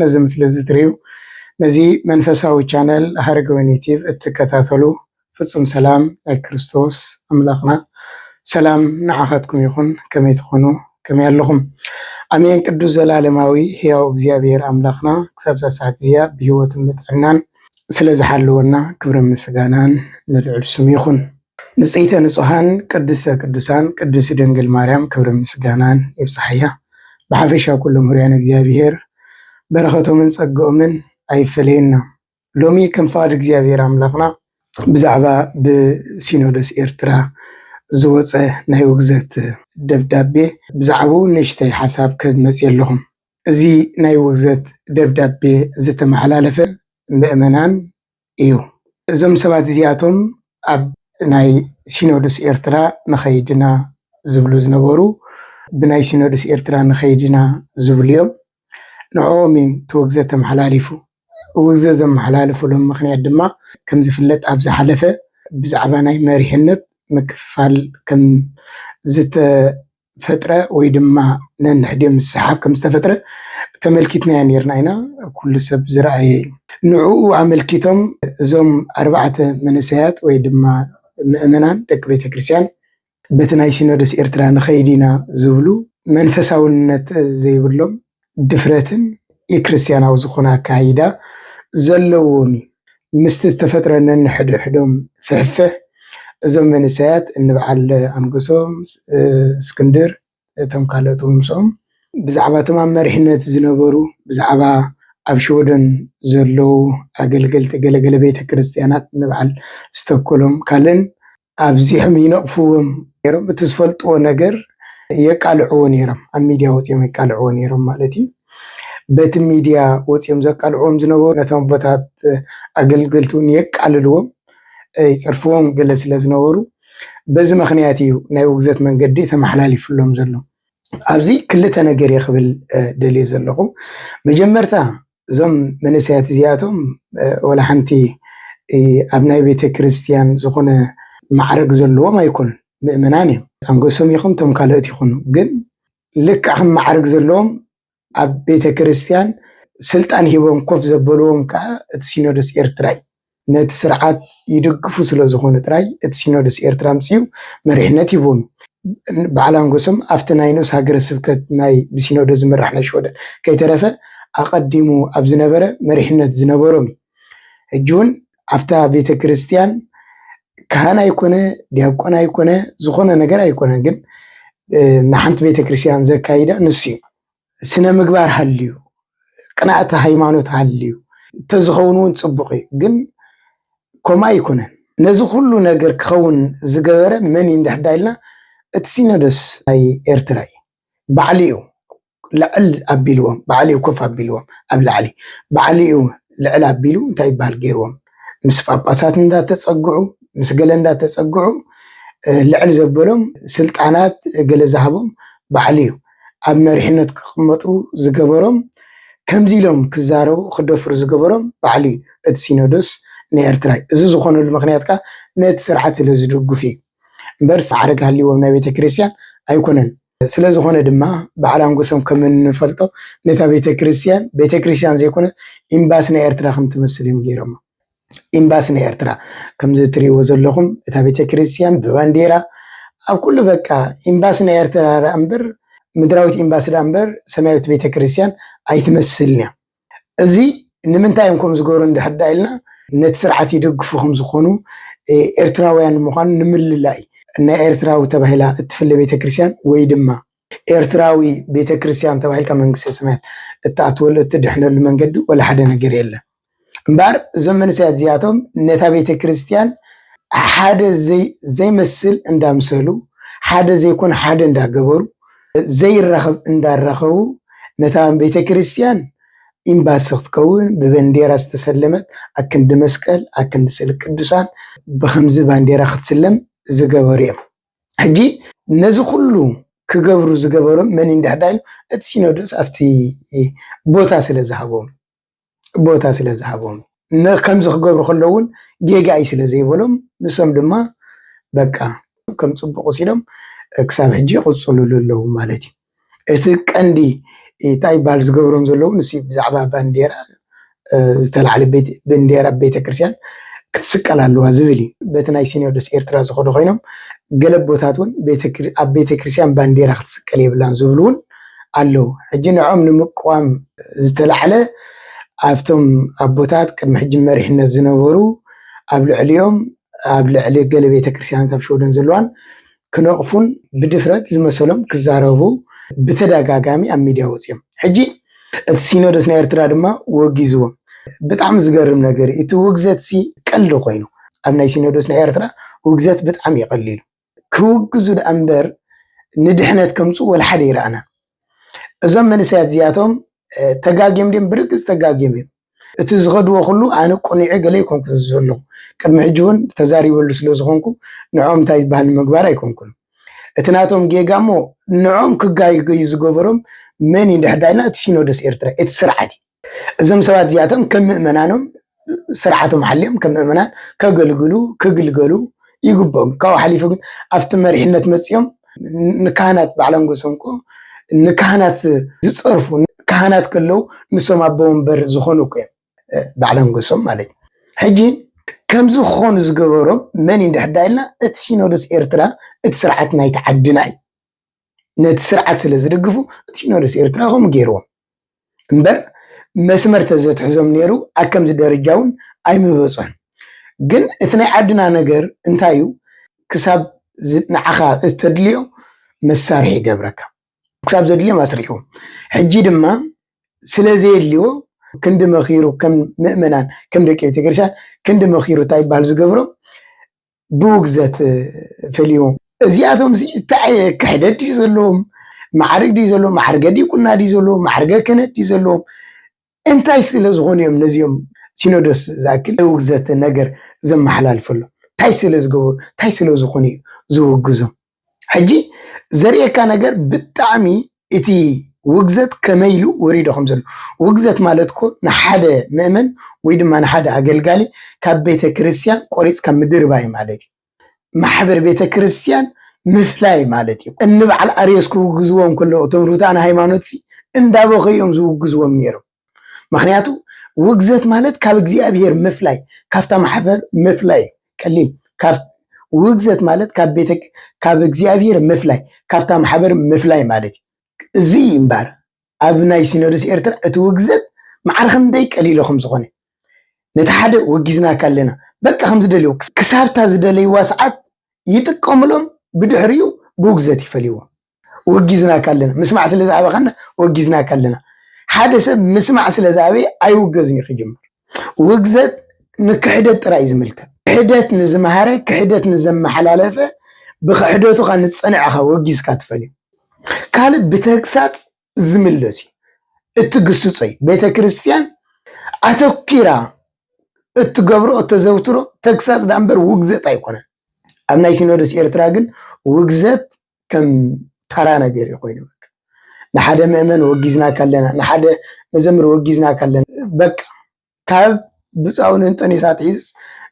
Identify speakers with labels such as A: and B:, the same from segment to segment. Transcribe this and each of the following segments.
A: ነዚ ምስሊ እዚ ትሪኡ ነዚ መንፈሳዊ ቻነል ሃረገወይኒ ቲቪ እትከታተሉ ፍፁም ሰላም ናይ ክርስቶስ ኣምላክና ሰላም ንዓካትኩም ይኩን ከመይ ትኩኑ ከመይ ኣለኩም ኣሜን ቅዱስ ዘላለማዊ ህያው እግዚኣብሔር ኣምላክና ክሳብ እዛ ሰዓት እዚኣ ብሂወትን ብጥዕናን ስለ ዝሓለወና ክብርን ምስጋናን ንልዑል ስሙ ይኩን ንጽይተ ንጹሃን ቅድስተ ቅዱሳን ቅድስት ድንግል ማርያም ክብርን ምስጋናን ይብጻሓያ ብሓፈሻ ኩሎም ሁሩያን እግዚኣብሔር በረከቶምን ጸግኦምን ኣይፈለየና ሎሚ ከም ፍቃድ እግዚኣብሔር ኣምላክና ብዛዕባ ብሲኖዶስ ኤርትራ ዝወጸ ናይ ውግዘት ደብዳቤ ብዛዕብኡ ንእሽተይ ሓሳብ ክህብ መጽየ ኣለኹም እዚ ናይ ውግዘት ደብዳቤ ዝተመሓላለፈ ምእመናን እዩ። እዞም ሰባት እዚኣቶም ኣብ ናይ ሲኖዱስ ኤርትራ ንኸይድ ኢና ዝብሉ ዝነበሩ ብናይ ሲኖዱስ ኤርትራ ንኸይድ ኢና ዝብሉ እዮም። ንዕኦም እዩ እቲ ውግዘ ተመሓላሊፉ። ውግዘ ዘመሓላልፉሉ ምኽንያት ድማ ከም ዝፍለጥ ኣብ ዝሓለፈ ብዛዕባ ናይ መሪሕነት ምክፍፋል ከም ፈጥረ ወይ ድማ ነንሕድዮ ምስሓብ ከም ዝተፈጥረ ተመልኪትናዮ ኔርና ኢና፣ ኩሉ ሰብ ዝረኣየ እዩ። ንዕኡ ኣመልኪቶም እዞም ኣርባዕተ መንእሰያት ወይ ድማ ምእመናን ደቂ ቤተ ክርስቲያን በቲ ናይ ሲኖዶስ ኤርትራ ንኸይድ ኢና ዝብሉ መንፈሳውነት ዘይብሎም ድፍረትን ኢክርስቲያናዊ ዝኾነ ኣካይዳ ዘለዎም እዩ። ምስቲ ዝተፈጥረ ነንሕድሕዶም ፍሕፍሕ እዞም መንእሰያት እንብዓል ኣንበሶ፣ እስክንድር እቶም ካልኦት ውን ምስኦም ብዛዕባ እቶም ኣብ መሪሕነት ዝነበሩ ብዛዕባ ኣብ ሽወደን ዘለዉ ኣገልገልቲ ገለገለ ቤተክርስቲያናት እንብዓል ዝተክሎም ካልእን ኣብዚሖም ይነቕፍዎም ነይሮም፣ እቲ ዝፈልጥዎ ነገር የቃልዕዎ ነይሮም፣ ኣብ ሚድያ ወፂኦም የቃልዕዎ ነይሮም ማለት እዩ። በቲ ሚድያ ወፂኦም ዘቃልዕዎም ዝነበሩ ነቶም ኣቦታት ኣገልገልቲ እውን የቃልልዎም ይፀርፍዎም ገለ ስለ ዝነበሩ በዚ ምክንያት እዩ ናይ ውግዘት መንገዲ ተመሓላሊፍሎም ዘሎ። ኣብዚ ክልተ ነገር እየ ክብል ደልየ ዘለኹ። መጀመርታ እዞም መንእሰያት እዚኣቶም ዋላ ሓንቲ ኣብ ናይ ቤተ ክርስቲያን ዝኾነ ማዕረግ ዘለዎም ኣይኮኑን፣ ምእመናን እዮም። ኣንገሶም ይኹን እቶም ካልኦት ይኹኑ ግን ልክዕ ከም ማዕረግ ዘለዎም ኣብ ቤተ ክርስቲያን ስልጣን ሂቦም ኮፍ ዘበልዎም ከዓ እቲ ሲኖዶስ ኤርትራ እዩ። ነቲ ስርዓት ይድግፉ ስለ ዝኾኑ ጥራይ እቲ ሲኖዶስ ኤርትራ ኣምጺኡ መሪሕነት ሂቡዎም እዩ። በዓል ኣንጎሶም ኣብቲ ናይ ንኡስ ሃገረ ስብከት ናይ ብሲኖዶስ ዝምራሕ ናይ ሽወደን ከይተረፈ ኣቐዲሙ ኣብ ዝነበረ መሪሕነት ዝነበሮም እዩ። ሕጂ እውን ኣብታ ቤተ ክርስቲያን ካህን ኣይኮነ ዲያቆን ኣይኮነ ዝኾነ ነገር ኣይኮነን ግን ንሓንቲ ቤተ ክርስቲያን ዘካይዳ ንሱ እዩ። ስነ ምግባር ሃልዩ ቅናእቲ ሃይማኖት ሃልዩ እንተዝኸውን እውን ፅቡቕ እዩ ግን ከምኡ ኣይኮነን ነዚ ኩሉ ነገር ክኸውን ዝገበረ መን እዩ እንድሕር ዳኢልና እቲ ሲኖዶስ ናይ ኤርትራ እዩ ባዕሉ እዩ ልዕል ኣቢልዎም ባዕሉ እዩ ኮፍ ኣቢልዎም ኣብ ላዕሊ ባዕሉ እዩ ልዕል ኣቢሉ እንታይ ይበሃል ገይርዎም ምስ ጳጳሳት እንዳተጸግዑ ምስ ገለ እንዳተጸግዑ ልዕል ዘበሎም ስልጣናት ገለ ዝሃቦም ባዕሉ እዩ ኣብ መሪሕነት ክቕመጡ ዝገበሮም፣ ከምዚ ኢሎም ክዛረቡ ክደፍሩ ዝገበሮም ባዕሉ እዩ፣ እቲ ሲኖዶስ ንኤርትራ'ዩ። እዚ ዝኾነሉ ምኽንያት ከኣ ነቲ ስርዓት ስለ ዝድግፉ እዩ እምበር ማዕርግ ሃልይዎም ናይ ቤተ ክርስቲያን ኣይኮነን። ስለ ዝኾነ ድማ በዓል ኣንጎሶም ከም እንፈልጦ ነታ ቤተ ክርስቲያን ቤተ ክርስቲያን ዘይኮነት ኢምባሲ ናይ ኤርትራ ከም ትመስል እዮም ገይሮማ። ኢምባሲ ናይ ኤርትራ ከምዚ ትሪእዎ ዘለኹም እታ ቤተክርስትያን ብባንዴራ ኣብ ኩሉ በቃ ኢምባሲ ናይ ኤርትራ ደኣ እምበር ምድራዊት ኢምባሲ ደኣ እምበር ሰማያዊት ቤተክርስትያን ኣይትመስልን እያ እዚ ንምንታይ እዮም ከም ዝገብሩ እንድሕር ደኣ ኢልና ነቲ ስርዓት ይደግፉ ከም ዝኾኑ ኤርትራውያን ምዃኑ ንምልላይ ናይ ኤርትራዊ ተባሂላ እትፍለ ቤተክርስትያን ወይ ድማ ኤርትራዊ ቤተ ክርስትያን ተባሂልካ መንግስተ ሰማያት እትኣትወሉ እትድሕነሉ መንገዲ ወላ ሓደ ነገር የለን እምበኣር እዞም መንእሰያት እዚኣቶም ነታ ቤተ ክርስትያን ሓደ ዘይመስል እንዳምሰሉ ሓደ ዘይኮን ሓደ እንዳገበሩ ዘይራኸብ እንዳራኸቡ ነታ ቤተ ክርስትያን ኢምባሲ ክትከውን ብበንዴራ ዝተሰለመት ኣብ ክንዲ መስቀል ኣብ ክንዲ ስእሊ ቅዱሳን ብኸምዚ ባንዴራ ክትስለም ዝገበሩ እዮም። ሕጂ ነዚ ኩሉ ክገብሩ ዝገበሮም መን እዩ እንድሕር ዳይሉ እቲ ሲኖዶስ ኣብቲ ቦታ ስለ ዝሃቦም ቦታ ስለ ዝሃቦም ከምዚ ክገብሩ ከለዉ እውን ጌጋ እዩ ስለ ዘይበሎም ንሶም ድማ በቃ ከም ጽቡቕ ወሲዶም ክሳብ ሕጂ ይቕጽሉሉ ኣለዉ ማለት እዩ። እቲ ቀንዲ እንታይ ይበሃል ዝገብሮም ዘለዉ ንሱ እዩ ብዛዕባ ባንዴራ ዝተላዕለ ባንዴራ ቤተክርስትያን ክትስቀል ኣለዋ ዝብል እዩ በቲ ናይ ሲኖዶስ ኤርትራ ዝኸዱ ኮይኖም ገለ ኣቦታት እውን ኣብ ቤተክርስትያን ባንዴራ ክትስቀል የብላን ዝብሉ እውን ኣለዉ ሕጂ ንዕኦም ንምቅዋም ዝተላዕለ ኣብቶም ኣቦታት ቅድሚ ሕጂ መሪሕነት ዝነበሩ ኣብ ልዕሊኦም ኣብ ልዕሊ ገለ ቤተክርስትያናት ኣብ ሸወደን ዘለዋን ክነቕፉን ብድፍረት ዝመሰሎም ክዛረቡ ብተደጋጋሚ ኣብ ሚድያ ወፂኦም ሕጂ እቲ ሲኖዶስ ናይ ኤርትራ ድማ ወጊዝዎም ብጣዕሚ ዝገርም ነገር እዩ እቲ ውግዘት ሲ ቀልዲ ኮይኑ ኣብ ናይ ሲኖዶስ ናይ ኤርትራ ውግዘት ብጣዕሚ ይቐሊሉ ክውግዙ ደኣ እምበር ንድሕነት ከምፅኡ ወላ ሓደ ይረኣና እዞም መንእሰያት እዚኣቶም ተጋግዮም ድም ብርግፅ ተጋግዮም እዮም። እቲ ዝኸድዎ ኩሉ ኣነ ቁኒዐ ገለ ኣይኮንኩን ዘለኹ ቅድሚ ሕጂ እውን ተዛሪበሉ ስለ ዝኾንኩ ንዕኦም እንታይ ዝበሃል ንምግባር ኣይኮንኩን እቲ ናቶም ጌጋ እሞ ንዕኦም ክጋይገዩ ዝገበሮም መን እዩ ድሕዳይና እቲ ሲኖዶስ ኤርትራ እቲ ስርዓት እዩ እዞም ሰባት እዚኣቶም ከም ምእመናኖም ስርዓቶም ሓልዮም ከም ምእመናን ከገልግሉ ክግልገሉ ይግብኦም። ካብኡ ሓሊፉ ግን ኣብቲ መሪሕነት መፅኦም ንካህናት ባዕሎም ገሶም እኮ ንካህናት ዝፀርፉ ካህናት ከለው ንሶም ኣቦ ወንበር ዝኾኑ እኮ እዮም ባዕሎም ገሶም ማለት እዩ ሕጂ ከምዚ ክኾኑ ዝገበሮም መን እዩ እንድሕር ኢልና እቲ ሲኖዶስ ኤርትራ እቲ ስርዓት ናይቲ ዓድና እዩ ነቲ ስርዓት ስለ ዝድግፉ ሲኖዶስ ኤርትራ ከምኡ ገይርዎም እምበር መስመር ተዘትሕዞም ነይሩ ኣከምዚ ደረጃ እውን ኣይምበጾን ግን እቲ ናይ ዓድና ነገር እንታይ እዩ ክሳብ ንዓኻ እተድልዮ መሳርሒ ይገብረካ ክሳብ ዘድልዮም ኣስሪሕዎም ሕጂ ድማ ስለ ዘየድልዎ ክንዲ መኺሩ ከም ምእመናን ከም ደቂ ቤተክርስትያን ክንዲ መኺሩ እንታይ ይበሃል ዝገብሮም ብውግዘት ፈልዩ እዚኣቶም ሲ እንታይ ዓይነት ክሕደት ድዩ ዘለዎም ማዕርግ ድዩ ዘለዎም ማዕርገ ዲቁና ድዩ ዘለዎም ማዕርገ ክህነት ድዩ ዘለዎም እንታይ ስለ ዝኾኑ እዮም ነዚኦም ሲኖዶስ ዝኣክል ውግዘት ነገር ዘመሓላልፈሎም እንታይ ስለ ዝገበሩ እንታይ ስለ ዝኾኑ እዩ ዝውግዞም ሕጂ ዘርእየካ ነገር ብጣዕሚ እቲ ውግዘት ከመይ ኢሉ ወሪዶ ከም ዘሎ ውግዘት ማለት እኮ ንሓደ መእመን ወይ ድማ ንሓደ ኣገልጋሊ ካብ ቤተ ክርስቲያን ቆሪፅካ ምድርባይ ማለት እዩ። ማሕበር ቤተ ክርስቲያን ምፍላይ ማለት እዩ። እንበዓል ኣርዮስ ክውግዝዎም ከለዉ እቶም ርቱዓን ሃይማኖት እንዳበኸዩ እዮም ዝውግዝዎም ነይሮም። ምክንያቱ ውግዘት ማለት ካብ እግዚኣብሔር ምፍላይ ካብታ ማሕበር ምፍላይ ቀሊል ውግዘት ማለት ካብ ቤተ ካብ እግዚኣብሔር ምፍላይ ካብታ ማሕበር ምፍላይ ማለት እዩ እዚ እምበር ኣብ ናይ ሲኖዶስ ኤርትራ እቲ ውግዘት ማዕረ ክንደይ ቀሊሎ ከም ዝኾነ ነቲ ሓደ ወጊዝናካ ኣለና በቃ ከም ዝደልዮ ክሳብታ ዝደለይዋ ሰዓት ይጥቀምሎም ብድሕሪኡ ብውግዘት ይፈልይዎም ወጊዝናካ ኣለና ምስማዕ ስለ ዝኣበኻና ወጊዝናካ ኣለና ሓደ ሰብ ምስማዕ ስለ ዝኣበየ ኣይውገዝን እዩ ክጅምር ውግዘት ንክሕደት ጥራይ ዝምልከት ክሕደት ንዝመሃረ ክሕደት ንዘመሓላለፈ ብክሕደቱካ ንፀንዐኻ ወጊዝካ ትፈልዩ ካልእ ብተግሳፅ ዝምለስ እዩ እትግስፆ እዩ ቤተ ክርስቲያን ኣተኪራ እትገብሮ እተዘውትሮ ተግሳፅ ዳእምበር ውግዘት ኣይኮነን ኣብ ናይ ሲኖዶስ ኤርትራ ግን ውግዘት ከም ተራ ነገር እዩ ኮይኑ ንሓደ መእመን ወጊዝና ካለና ንሓደ መዘምር ወጊዝና ካለና በቃ ካብ ብፃውን እንጠኔሳ ትሒዝስ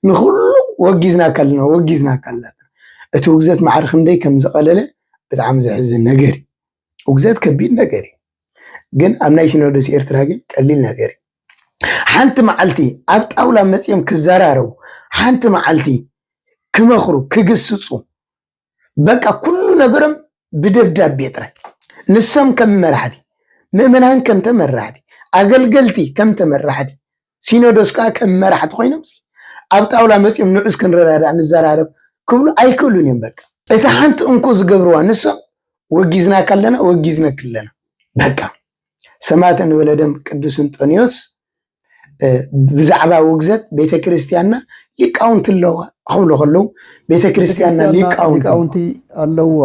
A: ንኩሉ ወጊዝና ካለና ወጊዝና ካለና እቲ ውግዘት ማዕሪ ክንደይ ከም ዝቐለለ ብጣዕሚ ዘሕዝን ነገር እዩ። ውግዘት ከቢድ ነገር እዩ፣ ግን ኣብ ናይ ሲኖዶስ ኤርትራ ግን ቀሊል ነገር እዩ። ሓንቲ መዓልቲ ኣብ ጣውላ መፅኦም ክዘራረቡ፣ ሓንቲ መዓልቲ ክመኽሩ፣ ክግስፁ፣ በቃ ኩሉ ነገሮም ብደብዳቤ ጥራይ ንሶም ከም መራሕቲ ምእመናን ከም ተመራሕቲ ኣገልገልቲ ከም ተመራሕቲ ሲኖዶስ ከዓ ከም መራሕቲ ኮይኖም ኣብ ጣውላ መፅኦም ንዑስ ክንረዳዳእ ንዘራረብ ክብሉ ኣይክእሉን እዮም በቃ እቲ ሓንቲ እንኮ ዝገብርዋ ንሶም ወጊዝና ካለና ወጊዝነክ ኣለና በቃ ሰማዕተ ንበለ ደም ቅዱስ እንጦንዮስ ብዛዕባ ውግዘት ቤተ ክርስቲያንና ሊቃውንቲ ኣለዋ ክብሉ ከለዉ ቤተ ክርስቲያንና ሊቃውንቲ ኣለዋ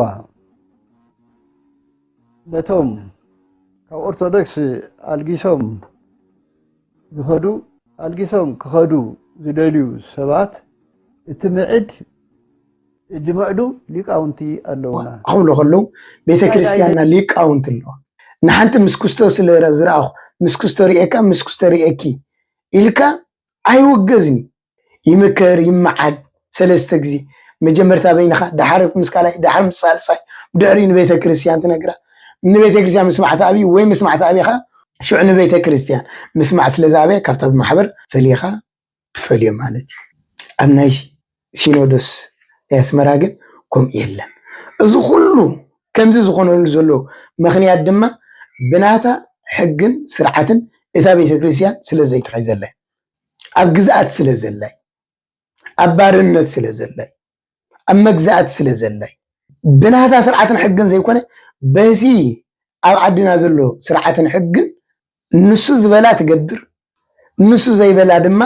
B: ነቶም ካብ ኦርቶዶክስ ኣልጊሶም ዝኸዱ ኣልጊሶም ክኸዱ ዝደልዩ ሰባት እቲ ምዕድ ዝምዕዱ ሊቃውንቲ ኣለዉና። ክብሉ ከለዉ
A: ቤተ ክርስቲያንና ሊቃውንቲ ኣለዋ። ንሓንቲ ምስ ክስቶ ስለ ዝረኣኹ ምስ ክስቶ ርእየካ ምስ ክስቶ ርእየኪ ኢልካ ኣይውገዝን እዩ። ይምከር ይመዓድ ሰለስተ ግዜ መጀመርታ በይንኻ ደሓር ምስ ካልኣይ ደሓር ምስ ሳልሳይ ብድሕሪኡ ንቤተ ክርስቲያን ትነግራ ንቤተ ክርስቲያን ምስማዕ ትኣብዩ ወይ ምስማዕ ትኣብየ ከኣ ሽዑ ንቤተ ክርስቲያን ምስማዕ ስለ ዝኣብያ ካብታ ብማሕበር ፈሊኻ ትፈልዮም ማለት እዩ። ኣብ ናይ ሲኖዶስ ናይ ኣስመራ ግን ከምኡ የለን። እዚ ኩሉ ከምዚ ዝኾነሉ ዘሎ ምኽንያት ድማ ብናታ ሕግን ስርዓትን እታ ቤተ ክርስቲያን ስለ ዘይተሒዘላ እዩ። ኣብ ግዝኣት ስለ ዘላ እዩ። ኣብ ባርነት ስለ ዘላ እዩ። ኣብ መግዛእቲ ስለ ዘላ እዩ። ብናታ ስርዓትን ሕግን ዘይኮነ በቲ ኣብ ዓድና ዘሎ ስርዓትን ሕግን ንሱ ዝበላ ትገብር ንሱ ዘይበላ ድማ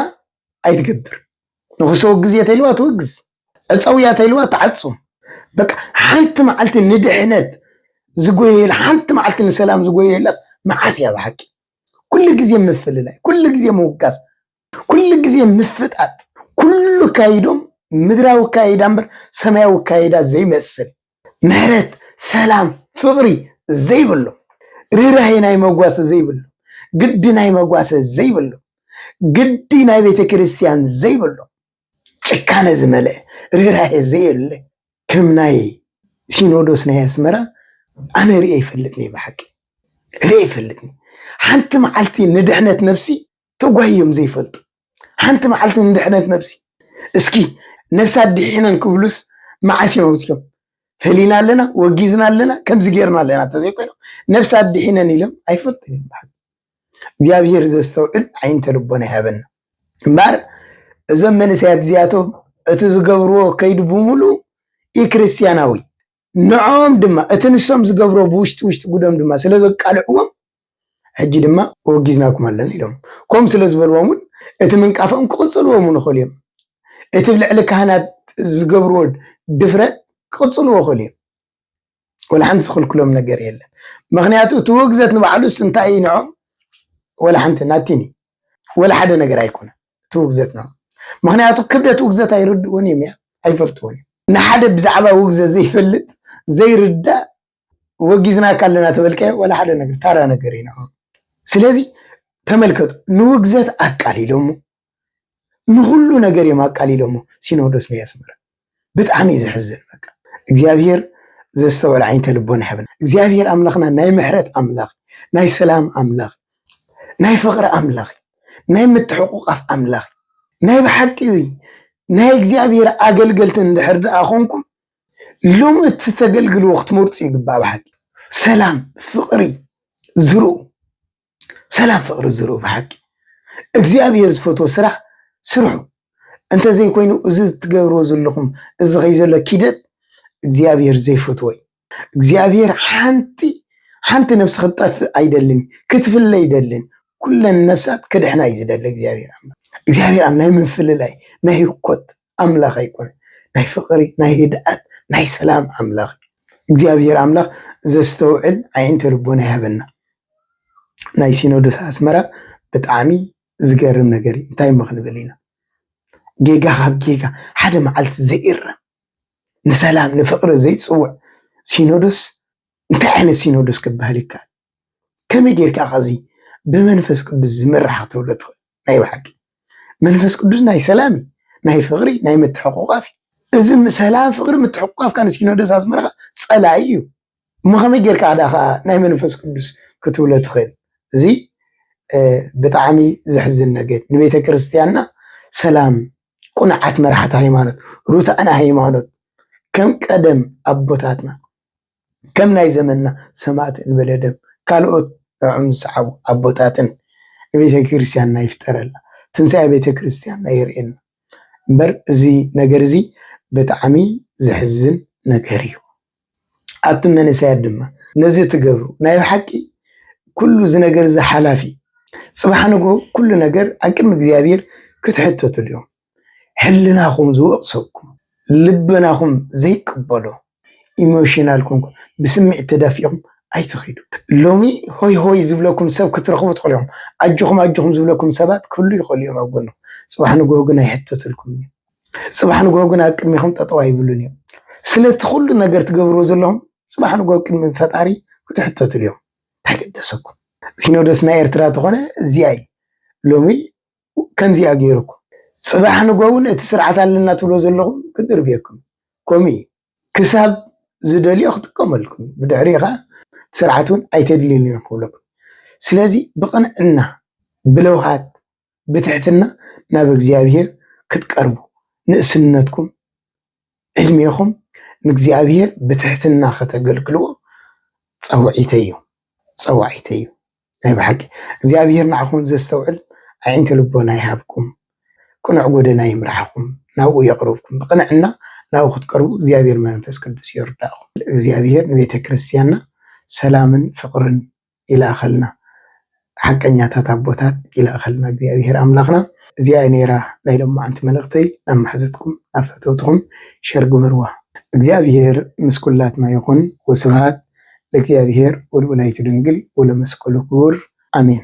A: ኣይትገብር። ንክሰወግዝ እየ ተይልዋ ትወግዝ፣ ዕፀው እያ ተይልዋ ትዓፁም። በቃ ሓንቲ መዓልቲ ንድሕነት ዝጎየየላ ሓንቲ መዓልቲ ንሰላም ዝጎየየላስ መዓስ እያ ብሓቂ? ኩሉ ግዜ ምፍልላይ፣ ኩሉ ግዜ ምውጋዝ ኩሉ ግዜ ምፍጣጥ ኩሉ ኣካይድኦም ምድራዊ ኣካይዳ እምበር ሰማያዊ ኣካይዳ ዘይመስል ምሕረት ሰላም ፍቅሪ ዘይብሉ ርህራሄ ናይ መጓሰ ዘይብሉ ግዲ ናይ መጓሰ ዘይብሉ ግዲ ናይ ቤተ ክርስቲያን ዘይብሉ ጭካነ ዝመልአ ርህራሄ ዘየለ ከም ናይ ሲኖዶስ ናይ ኣስመራ ኣነ ርእየ ይፈልጥኒ ብሓቂ ርእየ ይፈልጥኒ ሓንቲ መዓልቲ ንድሕነት ነብሲ ተጓሂ እዮም ዘይፈልጡ ሓንቲ መዓልቲ ንድሕነት ነብሲ እስኪ ነብሲ ኣዲሒነን ክብሉስ መዓስ እዮም ኣብዚኦም ፈሊና ኣለና ወጊዝና ኣለና ከምዚ ጌርና ኣለና ተዘይኮይኖም ነብሲ ኣዲሒነን ኢሎም ኣይፈልጡን እዮም በሓቂ እግዚኣብሄር ዘስተውዕል ዓይንተ ልቦና ይሃበና እምበር እዞም መንእሰያት እዚኣቶም እቲ ዝገብርዎ ከይዲ ብምሉ ኢ ክርስትያናዊ ንዖም ድማ እቲ ንሶም ዝገብሮ ብውሽጢ ውሽጢ ጉዶም ድማ ስለ ዘቃልዕዎም ሕጂ ድማ ወጊዝናኩም ኣለና ኢሎም ኮም ስለ ዝበልዎም እውን እቲ ምንቃፎም ክቕጽልዎ እውን ይኽእሉ እዮም እቲ ብ ልዕሊ ካህናት ዝገብርዎ ድፍረት ክቕጽልዎ ይኽእሉ እዮም ወላ ሓንቲ ዝኽልክሎም ነገር የለን ምክንያቱ እቲ ውግዘት ንባዕሉስ እንታይ እዩ ንዖም ወላ ሓንቲ ናቲኒ ወላ ሓደ ነገር ኣይኮነ እቲ ውግዘት ንዖም ምክንያቱ ክብደት ውግዘት ኣይርድእዎን እዮም እያ ኣይፈልጥዎን እዮም ንሓደ ብዛዕባ ውግዘት ዘይፈልጥ ዘይርዳእ ወጊዝናካ ኣለና ተበልቀ ዋላ ሓደ ነገር ታራ ነገር ኢና ስለዚ ተመልከቱ ንውግዘት ኣቃሊሎሞ ንኩሉ ነገር እዮም ኣቃሊሎሞ ሲኖዶስ ናይ ኣስመራ ብጣዕሚ እዩ ዘሕዝን በቃ እግዚኣብሔር ዘስተውዕል ዓይንተ ልቦና ይሕብና እግዚኣብሔር ኣምላኽና ናይ ምሕረት ኣምላኽ ናይ ሰላም ኣምላኽ ናይ ፍቅሪ ኣምላኽ ናይ ምትሕቁቃፍ ኣምላኽ ናይ ብሓቂ ናይ እግዚኣብሔር ኣገልገልቲ እንድሕር ደኣ ኮንኩም ሎም እቲ ተገልግልዎ ክትመርፁ ይግባእ ብሓቂ ሰላም ፍቅሪ ዝርኡ ሰላም ፍቅሪ ዝርኡ ብሓቂ እግዚኣብሔር ዝፈትዎ ስራሕ ስርሑ እንተዘይኮይኑ እዚ ትገብርዎ ዘለኹም እዚ ከይ ዘሎ ኪደት እግዚኣብሔር ዘይፈትዎ እዩ እግዚኣብሔር ሓንቲ ሓንቲ ነፍሲ ክትጠፍእ ኣይደልን ክትፍለ ይደልን ኩለን ነፍሳት ክድሕና እዩ ዝደሊ እግዚኣብሔር ኣምላክ እግዚኣብሔር ኣብ ናይ ምፍልላይ ናይ ህኮት ኣምላኽ ኣይኮነን ናይ ፍቅሪ ናይ ህድኣት ናይ ሰላም ኣምላኽ እዩ እግዚኣብሔር ኣምላኽ ዘስተውዕል ኣዒንተ ልቦና ይሃበና ናይ ሲኖዶስ ኣስመራ ብጣዕሚ ዝገርም ነገር እዩ እንታይ እሞ ክንብል ኢና ጌጋ ካብ ጌጋ ሓደ መዓልቲ ዘይእረም ንሰላም ንፍቅሪ ዘይፅውዕ ሲኖዶስ እንታይ ዓይነት ሲኖዶስ ክበሃል ይከኣል ከመይ ጌርካ ከዚ ብመንፈስ ቅዱስ ዝምራሕ ክትብሎ ትኽእል ናይ ብሓቂ መንፈስ ቅዱስ ናይ ሰላም እዩ፣ ናይ ፍቅሪ ናይ ምትሕቁቃፍ እዩ። እዚ ሰላም ፍቅሪ ምትሕቁቃፍ ካን ሲኖዶስ ኣስመራ ጸላኢ እዩ እሞ ከመይ ጌርካ ኣዳ ከኣ ናይ መንፈስ ቅዱስ ክትብሎ ትኽእል? እዚ ብጣዕሚ ዘሕዝን ነገር ንቤተ ክርስቲያንና ሰላም ቁንዓት መራሕቲ ሃይማኖት ሩታዕና ሃይማኖት ከም ቀደም ኣቦታትና ከም ናይ ዘመንና ሰማእት እንበለ ደም ካልኦት ንዕኦም ዝሰዓቡ ኣቦታትን ንቤተክርስትያንና ይፍጠረላ ትንሳኤ ቤተክርስትያንና የርእየና እምበር እዚ ነገር እዚ ብጣዕሚ ዘሕዝን ነገር እዩ ኣቱም መንእሰያት ድማ ነዚ እትገብሩ ናይ ብሓቂ ኩሉ እዚ ነገር እዚ ሓላፊ እዩ ጽባሕ ንግሆ ኩሉ ነገር ኣብ ቅድሚ እግዚኣብሔር ክትሕተቱ ድዮም ሕልናኹም ዝወቕሰኩም ልበናኹም ዘይቅበሎ ኢሞሽናል ኮንኩም ብስምዒት ተዳፊእኹም ኣይትኺዱ። ሎሚ ሆይ ሆይ ዝብለኩም ሰብ ክትረኽቡ ትኽእሉ ኢኹም። ኣጆኹም ኣጆኹም ዝብለኩም ሰባት ክህሉ ይኽእሉ እዮም ኣብ ጎንኹም። ጽባሕ ንግሆ ግን ኣይሕተትልኩምን እዮም። ጽባሕ ንግሆ ግን ኣብ ቅድሚኹም ጠጠው ኣይብሉን እዮም። ስለቲ ኩሉ ነገር ትገብርዎ ዘለኹም ጽባሕ ንግሆ ቅድሚ ፈጣሪ ክትሕተትሉ እዮም። እንታይ ገደሰኩም? ሲኖዶስና ኤርትራ ተኾነ እዚኣ እዩ። ሎሚ ከምዚኣ ገይርኩም ፅባሕ ንጎውን እቲ ስርዓት ኣለና ትብሎ ዘለኹም ክድርብየኩም ከምኡ እዩ ክሳብ ዝደልዮ ክጥቀመልኩም ብድሕሪኡ ከዓ ስርዓት እውን ኣይተድልዩን እዮም ክብለኩም ስለዚ ብቅንዕና ብለውሃት ብትሕትና ናብ እግዚኣብሔር ክትቀርቡ ንእስነትኩም ዕድሜኹም ንእግዚኣብሔር ብትሕትና ከተገልግልዎ ጸውዒተይ እዩ ጸዋዒተይ እዩ ናይ ብሓቂ እግዚኣብሔር ንዓኹም ዘስተውዕል ኣዒንተ ልቦና ይሃብኩም ቅኑዕ ጎደና ይምራሕኹም ናብኡ የቕርብኩም ብቕንዕና ናብኡ ክትቀርቡ እግዚኣብሔር መንፈስ ቅዱስ ይርዳእኹም እግዚኣብሔር ንቤተ ክርስቲያንና ሰላምን ፍቕርን ይልኣኸልና ሓቀኛታት ኣቦታት ይልኣኸልና እግዚኣብሔር ኣምላኽና እዚኣ እያ ነይራ ናይ ሎማዓንቲ መልእኽተይ ናብ ማሓዙትኩም ናብ ፈተውትኹም ሸር ግበርዋ እግዚኣብሔር ምስ ኩላትና ይኹን ወስብሃት ለእግዚኣብሔር ወለወላዲቱ ድንግል ወለመስቀሉ ክቡር ኣሜን።